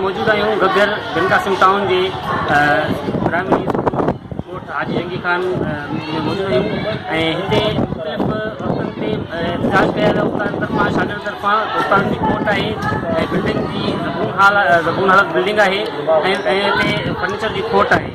موجود آهيون گگر بن قاسم ٽائون جي پرائمري اسڪول ڳوٺ حاجي جنگي خان ۾ موجود آهيون ۽ هتي مختلف وقتن تي احتجاج ڪيا ويا استاد طرفان شاگرد طرفان استادن جي ڪورٽ آهي ۽ بلڊنگ جي زبون حال زبون حالت بلڊنگ آهي ۽ ۽ هتي فرنيچر جي کوٽ آهي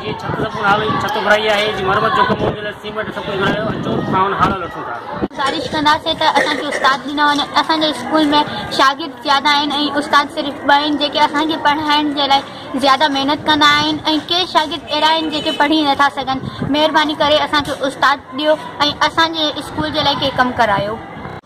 هيء ڇت سمورن هالن جي ڇت گهرائي آهي، جي مرمت جو ڪم هوندو ته سيمنٽ سڀ ڪجهه گهرايو، اچو اسان هن هال ۾ اچون ٿا. گذارش ڪنداسين ته اسان کي استاد ڏنا وڃن، اسان جي اسڪول ۾ شاگرد زياده آهن ۽ استاد صرف ٻه آهن جيڪي اسان کي پڙهائڻ جي لاء زياده محنت ڪندا آهن ۽ ڪي شاگرد اهڙا آهن جيڪي پڙهي نٿا سگهن، مهرباني ڪري اسان کي استاد ڏيو ۽ اسان جي اسڪول جي لاء ڪي ڪم ڪرايو.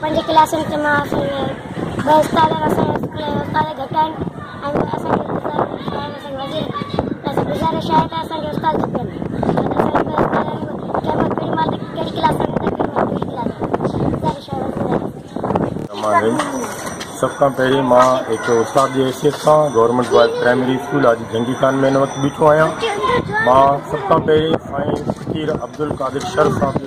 پنج ڪلاسن تي مان اسان کي ٻه استاد آهن اسان جا اسڪول جا استاد گهٽ آهن ۽ اسان کي گذارش آهي ته اسان کي وڌيڪ گذارش آهي ته اسان کي استاد کپن سڀ کان پهرين مان هڪ استاد جي حيثيت سان گورنمنٽ بوائز پرائمري اسڪول آج جنگي خان مين وقت بيٺو آهيان مان سڀ کان پهرين سائين فقير عبد القادر شر صاحب جو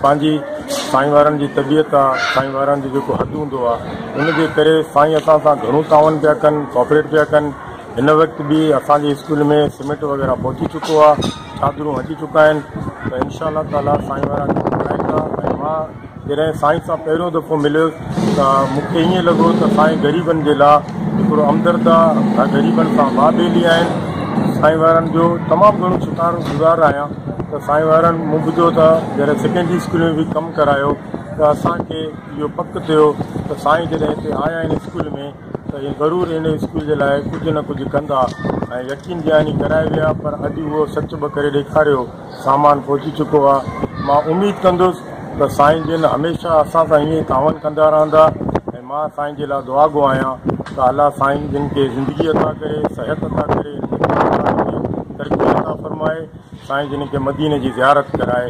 پنهنجي سائين وارن جي طبيعت آ سائين وارن جو جيڪو حد هوندو آ ان جي ڪري سائين اسان سان گهڻو تعاون پيا ڪن ڪوپريٽ پيا ڪن هن وقت به اسان جي اسڪول ۾ سمينٽ وغيره پهچي چڪو آ چادرون اچي چڪا آهن ته انشاء الله تعالي سائين وارا ڪرائيندا ۽ مان جڏهن سائين سان پهريون دفعو مليس ته مون کي ائين لڳو ته سائين غريبن جي لاء هڪڙو همدرد آ غريبن سان واهه ٻيلي آهن سائين وارن جو تمام گهڻو شڪار گذار آهيان ته سائين وارن مون ٻڌو ته جڏهن سيڪنڊري اسڪول ۾ به ڪم ڪرايو ته اسان کي اهو پڪ ٿيو ته سائين جڏهن هتي آيا آهن اسڪول ۾ ته اهي ضرور ان اسڪول جي لاء ڪجهه نه ڪجهه ڪندا ۽ يقين جهاني ڪرائي ويا پر اڄ اهو سچ به ڪري ڏيکاريو سامان پهچي چڪو آهي مان اميد ڪندس ته سائين جن هميشه اسان سان ائين ئي تعاون ڪندا رهندا ۽ مان سائين جي لا دعا گو آهيان ته الله سائين جن کي زندگي عطا ڪري صحت عطا ڪري ترقي عطا فرمائي سائين جن کي مدينه جي زيارت ڪرائي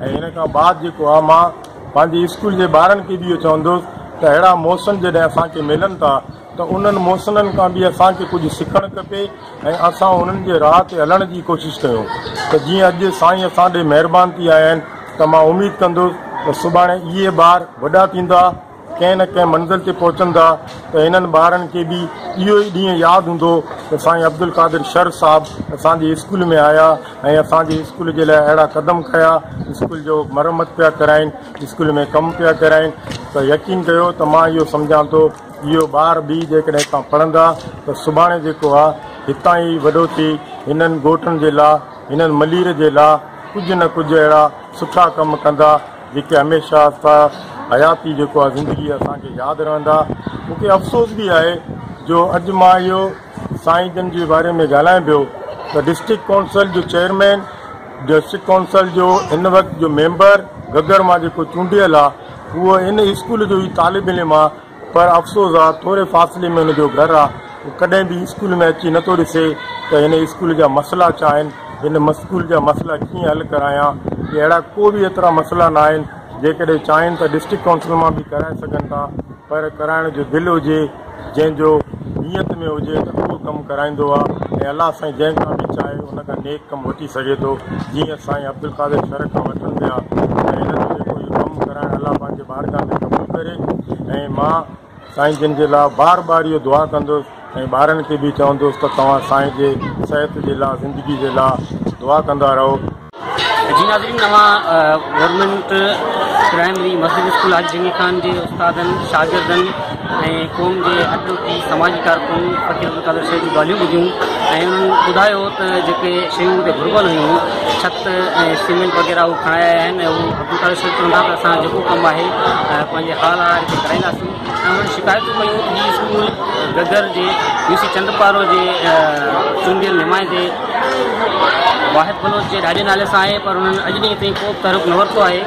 ۽ ان کان بعد جيڪو آ مان پنهنجي اسڪول جي ٻارن کي به اهو چوندس ته اهڙا موسن جڏهن اسان کي ملن ٿا ته انهن موسنن کان به اسان کي ڪجهه سکڻ کپي ۽ اسان انهن جي راهه تي هلڻ جي ڪوشش ڪيون ته جيئن اڄ سائين اسان ڏي مهربان ٿي آيا آهن ته مان اميد ڪندس ته سڀاڻي اهي ٻار وڏا ٿيندا ڪنهن نه ڪنهن منزل تي پهچندا ته هنن ٻارن کي به اهو ئي ڏينهن ياد هوندو ته سائين عبدالقادر شر صاحب اسان جي اسڪول ۾ آيا ۽ اسان جي اسڪول جي لاء اهڙا قدم کنيا اسڪول جو مرمت پيا ڪرائين اسڪول ۾ ڪم پيا ڪرائين ته يقين ڪيو ته مان اهو سمجهان ٿو اهو ٻار به جيڪڏهن هتان پڙهندا ته سڀاڻي جيڪو آ هتان ئي وڏو ٿي هنن ڳوٺن جي لا هنن ملير جي لا ڪجهه نه ڪجهه اهڙا سٺا ڪم ڪندا جيڪي هميشه استا حياتي جيڪو آهي زندگي اسان کي ياد رهندا مون کي افسوس به آهي جو اڄ مان اهو سائين جن جي باري ۾ ڳالهائين پيو ته ڊسٽرڪٽ ڪونسل جو چيئرمين ڊسٽرڪٽ ڪونسل جو هن وقت جو ميمبر گگر مان جيڪو چونڊيل آهي اهو ان اسڪول جو ئي طالب علم آهي پر افسوس آ ٿوري فاصلي ۾ هن جو گهر آ هو ڪڏهن به اسڪول ۾ اچي نه ٿو ڏسي ته هن اسڪول جا مسئلا ڇا آهن هن مسڪول جا مسئلا ڪيئن حل ڪرايان هي اهڙا ڪو به ايترا مسئلا نه آهن جيڪڏهن چاهين ته ڊسٽرڪٽ ڪائونسل مان به ڪرائي سگهن ٿا پر ڪرائڻ جو دل هجي جنهن جو نيت ۾ هجي ته اهو ڪم ڪرائيندو آ ۽ الله سائين جنهن کان به چاهي ان کان نيڪ ڪم وٺي سگهي ٿو جيئن سائين عبدالقادر شر کان وٺن پيا ۽ هن جو جيڪو هي ڪم ڪرائڻ الله پنهنجي بارگاھ ۾ قبول ڪري ۽ مان سائين جن جي لاء بار بار اهو دعا ڪندس ۽ ٻارن کي به چوندس ته توهان سائين جي صحت جي لاء زندگي جي لاء دعا ڪندا رهو. جي ناظرين اوهان گورنمينٽ پرائمري مسجد اسڪول حاجي جميل خان جي استادن شاگردن ۽ قوم جي اڳرڪي سماجي ڪارڪن فقير عبدالقادر شيخ جون ڳالهيون ٻڌيون ۽ انهن ٻڌايو ته جيڪي شيون هتي گهربل هيون ڇت ۽ سيمينٽ وغيره هو کڻائي آيا آهن ۽ هو عبدالقادر شيخ چون ٿا ته اسان جيڪو ڪم آهي پنهنجي حال هار هتي ڪرائينداسون ۽ انهن شڪايتون ڪيون ته هي اسڪول گگهر جي يو سي چندپارو جي چونڊيل نمائندي واحد بلوچ جي ڏاڏي نالي سان آهي پر انهن اڄ ڏينهن تائين ڪو به تحرڪ نه ورتو آهي